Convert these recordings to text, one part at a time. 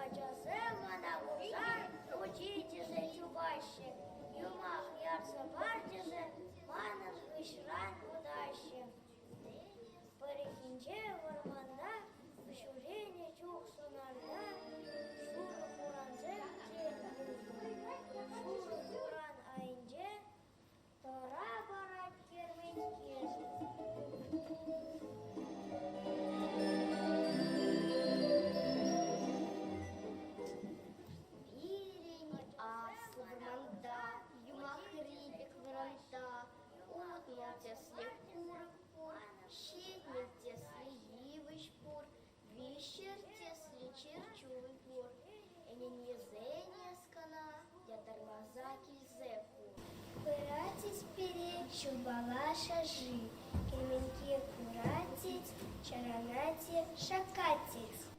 Ачасем мана курсан учительсем чупаҫҫӗ, юмах ярса парчӗшӗ манӑн хыҫран утаҫҫӗ. Пӗррехинче вӑрманта ҫӳренӗ чух сунарта шурӑ хурансем те юлнӑ. Шурӑ хуран айӗнче тӑра парать Пирӗн аслӑ вӑрманта, юмахри пек вӑрманта Укҫа тӗслӗх пур, ҫитмӗл тӗслӗ йывӑҫ пур, виҫҫӗр тӗслӗ чӗрчун пур. Ӗненмесенес кӑна ятарласа килсе хур. Куратесь пире, ҫулпала шӑши, кӗменке куратесь, чарӑнатесь, шаккатесь.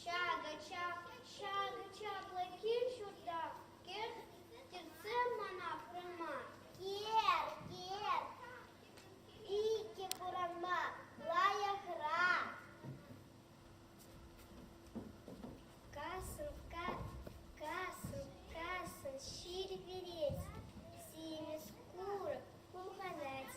Ҫакӑ чаплӑ кил-ҫурта кӗртсе мана курма, икӗ курама лайӑхра. Касӑн, касӑн, касӑн ҫил вилет, симӗс курӑк пухӑнать.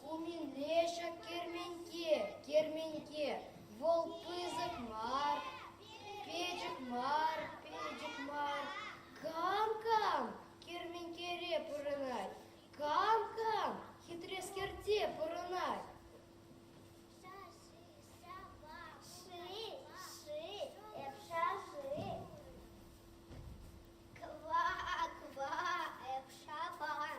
Хумин лешӗ керменте, керменте, вӑл пысӑк мар, пӗчӗк мар, пӗчӗк мар. Кам-кам керментере пурӑнать, кам-кам хитрескерте пурӑнать. Ква, ква, эпша пан.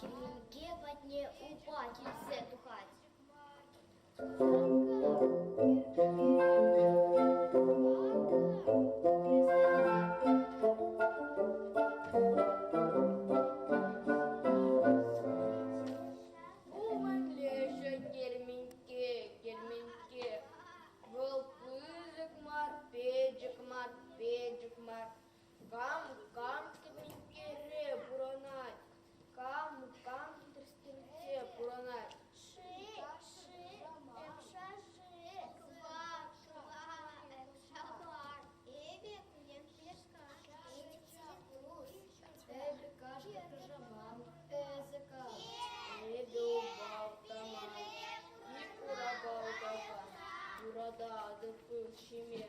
Кӗнеке патне упа килсе тухать. Педжик мар, педжик мар, Кам-кам кӗпинккере пурӑнать, кам-кам тӗрӗссинче пурӑнать. Эпӗ кашни кружокам, эсӗ кам, эпӗ убалтаман, Микура балтака, юрататӑп ҫиме.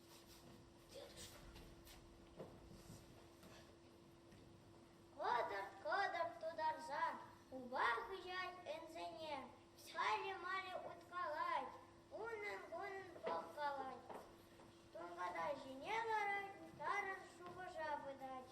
Кӑтӑрт-кӑтӑрт тутарса хупа хыҫать ӗнсене, пӗсхале-мале уткалать, унӑн-кунӑн пӑхкалать. Тунката ҫине ларать, тарӑн шухӑша пытать.